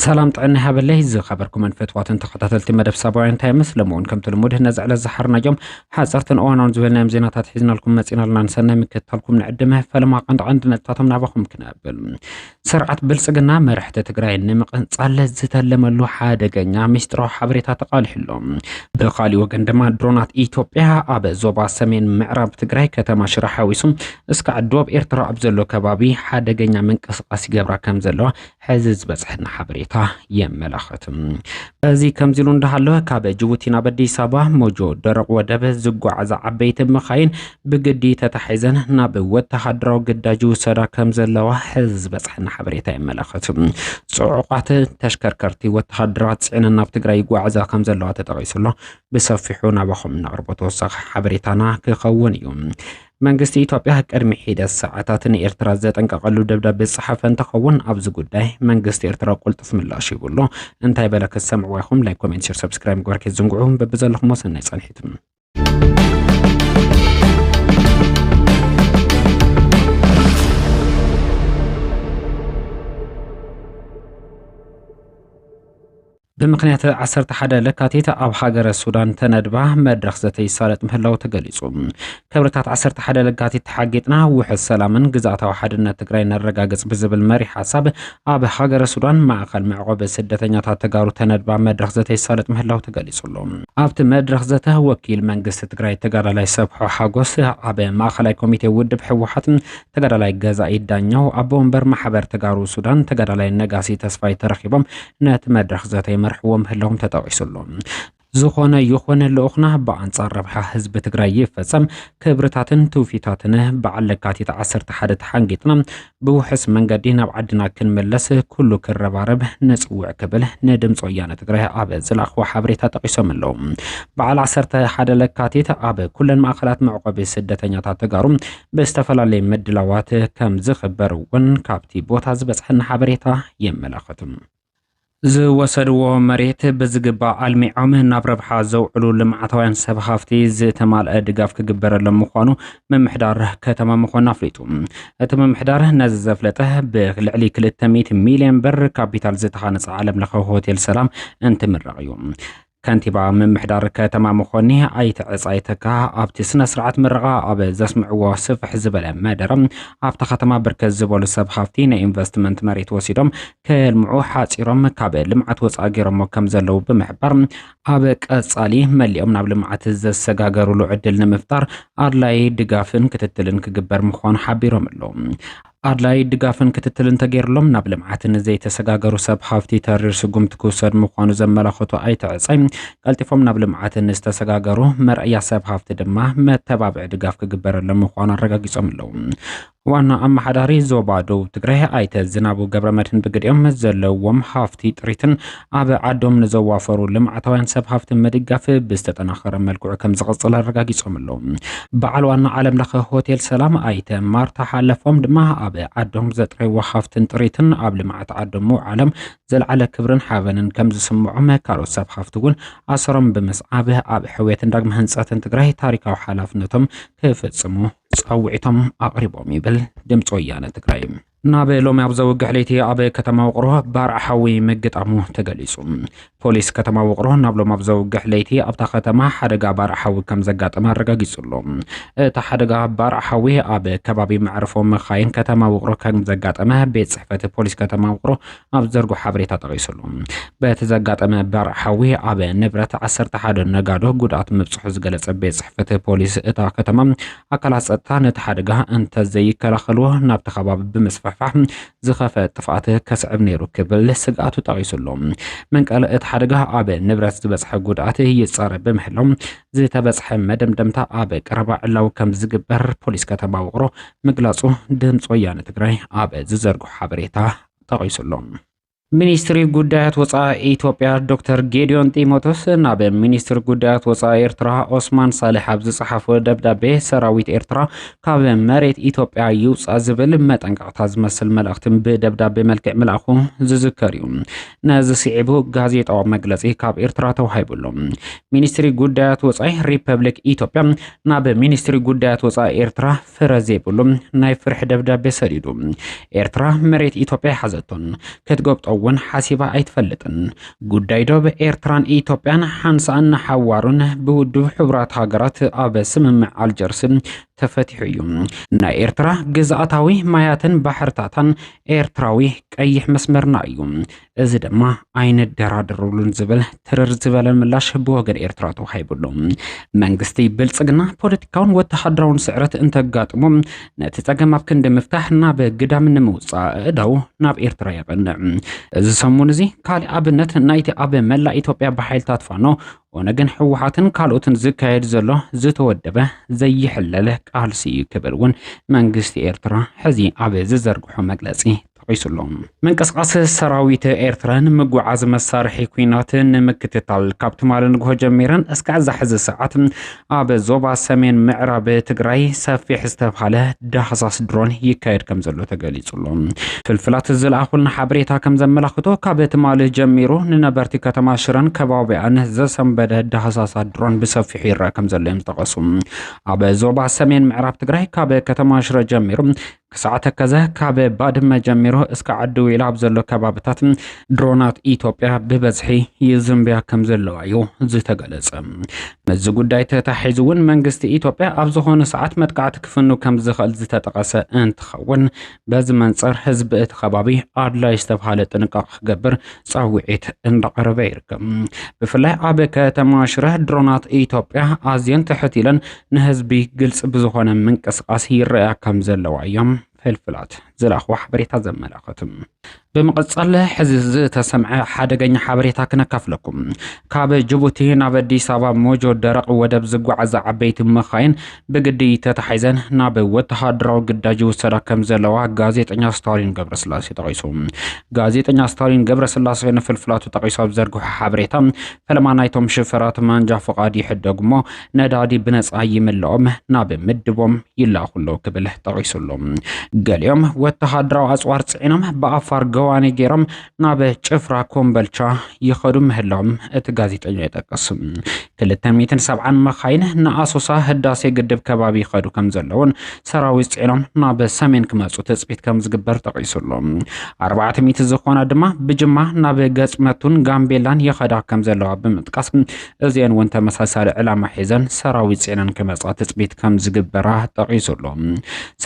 ሰላም ጥዕና ሃበለይ ዝኸበርኩምን ፈትዋትን ተኸታተልቲ መደብ ሳባውያን ታይምስ ለምውን ከምቲ ልሙድ ነዚ ዕለት ዝሓርናዮም ሓፀርትን እዋናውን ዝበልናዮም ዜናታት ሒዝናልኩም መፂናልና ንሰናይ ምክትታልኩም ንዕድመ ፈለማ ቀንዲ ቀንዲ ነጥብታቶም ናባኹም ክነብል ስርዓት ብልፅግና መራሕቲ ትግራይ ንምቕንፃል ዝተለመሉ ሓደገኛ ሚስጥራዊ ሓበሬታ ተቓሊሑ ኣሎ። ብኻሊእ ወገን ድማ ድሮናት ኢትዮጵያ ኣብ ዞባ ሰሜን ምዕራብ ትግራይ ከተማ ሽረ ሓዊሱ እስካዕ ዶብ ኤርትራ ኣብ ዘሎ ከባቢ ሓደገኛ ምንቅስቓስ ይገብራ ከም ዘለዋ ሕዚ ዝበፅሐና ሓበሬታ የመላኽት። እዚ ከምዚ ኢሉ እንዳሃለወ ካብ ጅቡቲ ናብ ኣዲስ ኣበባ ሞጆ ደረቕ ወደብ ዝጓዓዛ ዓበይቲ መኻይን ብግዲ ተታሒዘን ናብ ወተሃደራዊ ግዳጅ ይውሰዳ ከም ዘለዋ ሕዚ ዝበፅሐና ሓበሬታ የመላኽት። ፅዑቓት ተሽከርከርቲ ወተሃደራት ፅዕነን ናብ ትግራይ ይጓዓዛ ከም ዘለዋ ተጠቒሱ ኣሎ። ብሰፊሑ ናባኹም እነቕርቦ ተወሳኺ ሓበሬታና ክኸውን እዩ። መንግስቲ ኢትዮጵያ ቅድሚ ሒደት ሰዓታት ንኤርትራ ዘጠንቀቐሉ ደብዳቤ ዝጸሓፈ እንትኸውን ኣብዚ ጉዳይ መንግስቲ ኤርትራ ቁልጡፍ ምላሽ ይብሎ እንታይ በለ ክትሰምዕዎ ኢኹም። ላይክ፣ ኮሜንት፣ ሼር፣ ሰብስክራይብ ምግባር ከይትዝንግዑ። በብዘለኹም ሰናይ ጻንሒት። ብምክንያት 11 ለካቲት ኣብ ሃገረ ሱዳን ተነድባ መድረኽ ዘተ ይሳለጥ ምህላው ተገሊጹ። ክብርታት 11 ለካቲት ተሓጊጥና ውሕስ ሰላምን ግዝኣታዊ ሓድነት ትግራይ ነረጋግጽ ብዝብል መሪሕ ሓሳብ ኣብ ሃገረ ሱዳን ማእኸል መዕቖቢ ስደተኛታት ተጋሩ ተነድባ መድረኽ ዘተ ይሳለጥ ምህላው ተገሊፁ'ሎ። ኣብቲ መድረኽ ዘተ ወኪል መንግስቲ ትግራይ ተጋዳላይ ሰብሖ ሓጎስ፣ ኣብ ማእኸላይ ኮሚቴ ውድብ ህወሓት ተጋዳላይ ገዛኢ ዳኘው፣ ኣቦ ወንበር ማሕበር ተጋሩ ሱዳን ተጋዳላይ ነጋሲ ተስፋይ ተረኺቦም ነቲ መድረኽ ዘተ ይመርሕዎ ምህላዎም ተጠቒሱ'ሎ። ዝኾነ ይኹን ልኡኽና ብኣንፃር ረብሓ ህዝቢ ትግራይ ይፈፀም፣ ክብርታትን ትውፊታትነ በዓል ለካቲት ዓሰርተ ሓደ ተሓንጊጥና ብውሑስ መንገዲ ናብ ዓድና ክንምለስ ኩሉ ክረባረብ ነፅውዕ ክብል ንድምፂ ወያነ ትግራይ ኣብ ዝለኣኽዎ ሓበሬታ ጠቒሶም ኣለዉ። በዓል ዓሰርተ ሓደ ለካቲት ኣብ ኩለን ማእኸላት መዕቆቢ ስደተኛታት ተጋሩ ብዝተፈላለየ ምድላዋት ከም ዝኽበር እውን ካብቲ ቦታ ዝበፅሐና ሓበሬታ የመላኽት። ዝወሰድዎ መሬት ብዝግባእ ኣልሚዖም ናብ ረብሓ ዘውዕሉ ልምዓታውያን ሰብ ሃፍቲ ዝተማልአ ድጋፍ ክግበረሎም ምዃኑ ምምሕዳር ከተማ መኾን ኣፍሊጡ። እቲ ምምሕዳር ነዚ ዘፍለጠ ብልዕሊ ክልተ ሚእቲ ሚልዮን ብር ካፒታል ዝተሃነፀ ዓለምለኸ ሆቴል ሰላም እንትምረቕ እዩ። ከንቲባ ምምሕዳር ከተማ መኾኒ ኣይተ ዕፃይ ተካ ኣብቲ ስነ ስርዓት ምረቓ ኣብ ዘስምዕዎ ስፍሕ ዝበለ መደረ ኣብታ ከተማ ብርከት ዝበሉ ሰብ ሃፍቲ ናይ ኢንቨስትመንት መሬት ወሲዶም ከየልምዑ ሓፂሮም ካብ ልምዓት ወፃኢ ገይሮሞ ከም ዘለዉ ብምሕባር ኣብ ቀፃሊ መሊኦም ናብ ልምዓት ዘሰጋገሩሉ ዕድል ንምፍጣር ኣድላይ ድጋፍን ክትትልን ክግበር ምዃኑ ሓቢሮም ኣለዉ። ኣድላዪ ድጋፍን ክትትልን ተገይርሎም ናብ ልምዓት ንዘይተሰጋገሩ ሰብ ሃፍቲ ተሪር ስጉምቲ ክውሰድ ምዃኑ ዘመላኸቱ ኣይተ ዕፃይ፣ ቀልጢፎም ናብ ልምዓት ንዝተሰጋገሩ መርኣያ ሰብ ሃፍቲ ድማ መተባብዒ ድጋፍ ክግበረሎም ምዃኑ ኣረጋጊፆም ኣለው። ዋና ኣመሓዳሪ ዞባ ደቡብ ትግራይ ኣይተ ዝናቡ ገብረመድህን ብግዲኦም ዘለዎም ሃፍቲ ጥሪትን ኣብ ዓዶም ንዘዋፈሩ ልምዓታውያን ሰብ ሃፍቲ ምድጋፍ ብዝተጠናኸረ መልክዑ ከምዝቕፅል ኣረጋጊፆም ኣለዉ። በዓል ዋና ዓለም ለኸ ሆቴል ሰላም ኣይተ ማርታ ሓለፎም ድማ ኣብ ዓዶም ዘጥረይዎ ሃፍትን ጥሪትን ኣብ ልምዓት ዓዶም ምውዓሎም ዘልዓለ ክብርን ሓበንን ከምዝስምዖም ካልኦት ሰብ ሃፍቲ እውን ኣሰሮም ብምስዓብ ኣብ ሕውየትን ዳግመ ህንፀትን ትግራይ ታሪካዊ ሓላፍነቶም ክፍፅሙ ፃውዒቶም ኣቕሪቦም ይብል ድምፂ ወያነ ትግራይ። ናብ ሎሚ ኣብ ዘውግሕ ለይቲ ኣብ ከተማ ውቕሮ ባርዕ ሓዊ ምግጣሙ ተገሊጹ። ፖሊስ ከተማ ውቕሮ ናብ ሎሚ ኣብ ዘውግሕ ለይቲ ኣብታ ከተማ ሓደጋ ባርዕ ሓዊ ከም ዘጋጠመ ኣረጋጊጹ ኣሎ። እቲ ሓደጋ ባርዕ ሓዊ ኣብ ከባቢ መዕርፎ መኻይን ከተማ ውቕሮ ከም ዘጋጠመ ቤት ጽሕፈት ፖሊስ ከተማ ውቕሮ ኣብ ዘርጎ ሓበሬታ ጠቒሱሉ። በቲ ዘጋጠመ በርዕ ሓዊ ኣብ ንብረት ዓሰርተ ሓደ ነጋዶ ጉድኣት ምብጽሑ ዝገለጸ ቤት ጽሕፈት ፖሊስ እታ ከተማ ኣካላት ጸጥታ ነቲ ሓደጋ እንተዘይከላኸልዎ ናብቲ ከባቢ ብምስፍሕፋሕ ዝኸፈ ጥፍኣት ከስዕብ ነይሩ ክብል ስግኣቱ ጠቒሱሉ። መንቀል እቲ ሓደጋ ኣብ ንብረት ዝበጽሐ ጉድኣት ይጻረ ብምህላው ዝተበጽሐ መደምደምታ ኣብ ቀረባ ዕላዊ ከም ዝግበር ፖሊስ ከተማ ውቕሮ ምግላጹ ድምፂ ወያነ ትግራይ ኣብ ዝዘርጎ ሓበሬታ ተቐይሱ ኣሎ። ሚኒስትሪ ጉዳያት ወፃኢ ኢትዮጵያ ዶክተር ጌዲዮን ጢሞቶስ ናብ ሚኒስትሪ ጉዳያት ወፃኢ ኤርትራ ኦስማን ሳልሕ ኣብ ዝፀሓፎ ደብዳቤ ሰራዊት ኤርትራ ካብ መሬት ኢትዮጵያ ይውፃእ ዝብል መጠንቀቕታ ዝመስል መልእኽቲ ብደብዳቤ መልክዕ ምልኣኹ ዝዝከር እዩ። ነዚ ስዒቡ ጋዜጣዊ መግለፂ ካብ ኤርትራ ተዋሂቡ ኣሎ። ሚኒስትሪ ጉዳያት ወፃኢ ሪፐብሊክ ኢትዮጵያ ናብ ሚኒስትሪ ጉዳያት ወፃኢ ኤርትራ ፍረ ዘይብሉ ናይ ፍርሒ ደብዳቤ ሰዲዱ። ኤርትራ መሬት ኢትዮጵያ ኣይሓዘቶን፣ ክትጎብጦ እውን ሓሲባ ኣይትፈልጥን። ጉዳይ ዶብ ኤርትራን ኢትዮጵያን ሓንሳእን ንሓዋሩን ብውድብ ሕቡራት ሃገራት ኣብ ስምምዕ ኣልጀርስ ተፈቲሑ እዩ። ናይ ኤርትራ ግዝኣታዊ ማያትን ባሕርታታን ኤርትራዊ ቀይሕ መስመርና እዩ። እዚ ድማ ኣይንደራደሩሉን ዝብል ትርር ዝበለ ምላሽ ብወገን ኤርትራ ተዋሂቡሉ። መንግስቲ ብልጽግና ፖለቲካውን ወተሃደራውን ስዕረት እንተጋጥሞ ነቲ ጸገም ኣብ ክንዲ ምፍታሕ ናብ ግዳም ንምውጻእ እዳው ናብ ኤርትራ የቐንዕ። እዚ ሰሙን እዚ ካልእ ኣብነት ናይቲ ኣብ መላእ ኢትዮጵያ ብሓይልታት ፋኖ ኦነግን ህወሓትን ካልኦትን ዝካየድ ዘሎ ዝተወደበ ዘይሕለል ቃልሲ እዩ ክብል እውን መንግስቲ ኤርትራ ሕዚ ኣብ ዝዘርግሖ መግለጺ ጠቒሱ ኣሎ። ምንቅስቓስ ሰራዊት ኤርትራ ንምጉዓዝ መሳርሒ ኲናት ንምክትታል ካብ ትማሊ ንግሆ ጀሚረን እስካዕ እዛ ሕዚ ሰዓት ኣብ ዞባ ሰሜን ምዕራብ ትግራይ ሰፊሕ ዝተብሃለ ዳህሳስ ድሮን ይካየድ ከም ዘሎ ተገሊጹ ኣሎ። ፍልፍላት ዝለኣኹልና ሓበሬታ ከም ዘመላኽቶ ካብ ትማሊ ጀሚሩ ንነበርቲ ከተማ ሽረን ከባቢኣን ዘሰንበደ ዳህሳሳ ድሮን ብሰፊሑ ይረአ ከም ዘሎ እዮም ዝጠቐሱ። ኣብ ዞባ ሰሜን ምዕራብ ትግራይ ካብ ከተማ ሽረ ጀሚሩ ክሳዕ ተከዘ ካብ ባድመ ጀሚሩ እስከ ዓዲ ዌላ ኣብ ዘሎ ከባብታት ድሮናት ኢትዮጵያ ብበዝሒ ይዝንብያ ከም ዘለዋ እዩ ዝተገለጸ። ምስዚ ጉዳይ ተታሒዙ እውን መንግስቲ ኢትዮጵያ ኣብ ዝኾነ ሰዓት መጥቃዕቲ ክፍኑ ከም ዝኽእል ዝተጠቐሰ እንትኸውን በዚ መንፅር ህዝቢ እቲ ከባቢ ኣድላይ ዝተብሃለ ጥንቃቕ ክገብር ፃውዒት እንዳቐረበ ይርከብ። ብፍላይ ኣብ ከተማ ሽረ ድሮናት ኢትዮጵያ ኣዝየን ትሕት ኢለን ንህዝቢ ግልፂ ብዝኾነ ምንቅስቓስ ይረኣያ ከም ዘለዋ እዮም ፍልፍላት ዝለኣኽዎ ሓበሬታ ዘመላኽት። ብምቕፃል ሕዚ ዝተሰምዐ ሓደገኛ ሓበሬታ ክነካፍለኩም። ካብ ጅቡቲ ናብ ኣዲስ ኣበባ ሞጆ ደረቕ ወደብ ዝጓዓዛ ዓበይቲ መኻይን ብግዲ ተታሒዘን ናብ ወተሃደራዊ ግዳጅ ይውሰዳ ከም ዘለዋ ጋዜጠኛ ስታሊን ገብረስላሴ ጠቒሱ። ጋዜጠኛ ስታሊን ገብረስላሴ ንፍልፍላቱ ጠቒሱ ኣብ ዘርግሖ ሓበሬታ ፈለማ ናይቶም ሽፈራት ማንጃ ፍቓድ ይሕደጉ እሞ ነዳዲ ብነፃ ይምልኦም ናብ ምድቦም ይላኹ ኣለዉ ክብል ጠቒሱ ኣሎ። ገሊኦም ወተሃደራዊ ኣፅዋር ፅዒኖም ብኣፋር ገዋኔ ገይሮም ናብ ጭፍራ ኮምበልቻ ይኸዱ ምህላዎም እቲ ጋዜጠኛ ይጠቅስ። ክልተ ሚእትን ሰብዓን መኻይን ንኣሶሳ ህዳሴ ግድብ ከባቢ ይኸዱ ከም ዘለውን ሰራዊት ጽዒኖም ናብ ሰሜን ክመጹ ትጽቢት ከም ዝግበር ጠቒሱ ኣሎ ኣርባዕተ ሚእቲ ዝኾና ድማ ብጅማ ናብ ገጽመቱን ጋምቤላን ይኸዳ ከም ዘለዋ ብምጥቃስ እዚአን እውን ተመሳሳሊ ዕላማ ሒዘን ሰራዊት ጽዒነን ክመጻ ትጽቢት ከም ዝግበራ ጠቒሱ ኣሎ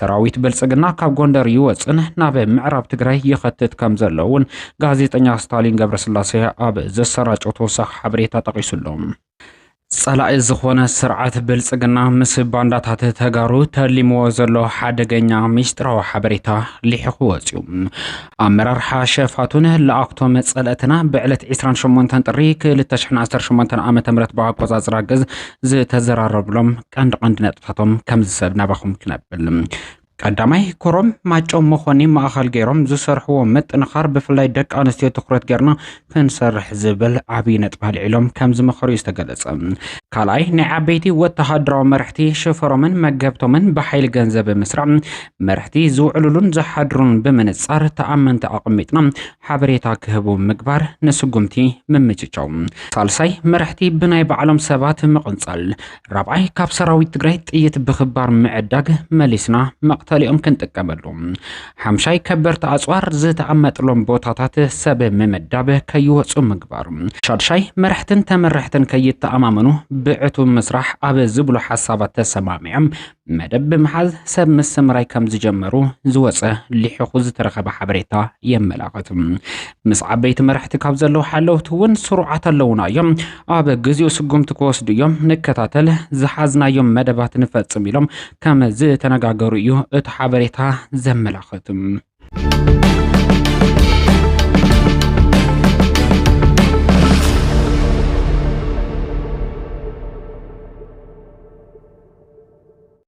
ሰራዊት ብልጽግና ካብ ጎንደር ይወፅን ናብ ምዕራብ ትግራይ ይኸትት ከም ዘሎ እውን ጋዜጠኛ ስታሊን ገብረስላሴ ኣብ ዘሰራጨው ተወሳኺ ሓበሬታ ጠቒሱ ኣሎ ፀላኢ ዝኾነ ስርዓት ብልፅግና ምስ ባንዳታት ተጋሩ ተሊምዎ ዘሎ ሓደገኛ ሚስጥራዊ ሓበሬታ ሊሕኹ ወፅዩ። ኣመራርሓ ሸፋቱን ለኣኽቶም ፀለእትና ብዕለት 28 ጥሪ 2018 ዓ ም ብኣቆፃፅራ ግዝ ዝተዘራረብሎም ቀንዲ ቀንዲ ነጥብታቶም ከምዚ ሰብ ናባኹም ክነብል ቀዳማይ ኮሮም ማጮ መኾኒ ማእኸል ገይሮም ዝሰርሕዎ ምጥንኻር ብፍላይ ደቂ ኣንስትዮ ትኩረት ገይርና ክንሰርሕ ዝብል ዓብዪ ነጥቢ ኣልዒሎም ከም ዝመኸሩ እዩ ዝተገለፀ። ካልኣይ ናይ ዓበይቲ ወተሃደራዊ መራሕቲ ሽፈሮምን መገብቶምን ብሓይሊ ገንዘብ ብምስራዕ መራሕቲ ዝውዕሉሉን ዝሓድሩን ብምንፃር ተኣመንቲ ኣቐሚጥና ሓበሬታ ክህቡ ምግባር ንስጉምቲ ምምጭጫው። ሳልሳይ መራሕቲ ብናይ ባዕሎም ሰባት ምቕንፃል። ራብዓይ ካብ ሰራዊት ትግራይ ጥይት ብኽባር ምዕዳግ መሊስና መቕተሊኦም ክንጥቀመሉ። ሓምሻይ ከበርቲ ኣፅዋር ዝተቐመጥሎም ቦታታት ሰብ ምምዳብ ከይወፁ ምግባር። ሻድሻይ መራሕትን ተመራሕትን ከይተኣማመኑ ብዕቱብ ምስራሕ ኣብ ዝብሉ ሓሳባት ተሰማሚዖም መደብ ብምሓዝ ሰብ ምሰምራይ ከም ዝጀመሩ ዝወጸ ሊሕኹ ዝተረኸበ ሓበሬታ የመላኽት። ምስ ዓበይቲ መራሕቲ ካብ ዘለዉ ሓለውቲ እውን ስሩዓት ኣለዉና እዮም፣ ኣብ ግዜኡ ስጉምቲ ክወስዱ እዮም፣ ንከታተል፣ ዝሓዝናዮም መደባት ንፈጽም ኢሎም ከም ዝተነጋገሩ እዩ እቲ ሓበሬታ ዘመላኽት።